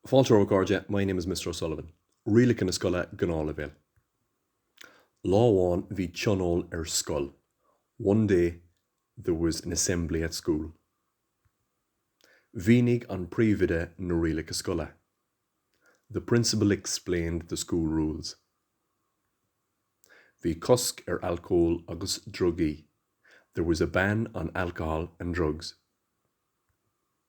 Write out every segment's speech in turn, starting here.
Fáilte a chairde, my name is Mr O'Sullivan. Rialacha na Scoile, Gnáthleibhéal. Lá amháin bhí tionól ar scoil, one day there was an assembly at school. Mhínigh an príomhoide na rialacha scoile, the principal explained the school rules. Bhí cosc ar alcól agus drugaí, there was a ban on alcohol and drugs.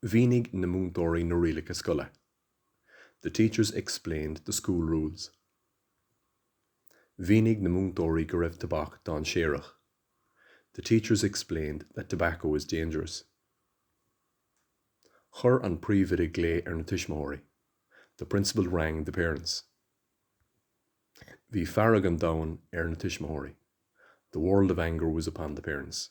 Mhínigh na múinteoirí na rialacha scoile, The teachers explained the school rules. Mhínigh na múinteoirí go raibh tobac dainséarach, The teachers explained that tobacco is dangerous. Chuir an príomhoide glao ar na tuismitheoirí, The principal rang the parents. Bhí fearg an domhain ar na tuismitheoirí, The world of anger was upon the parents.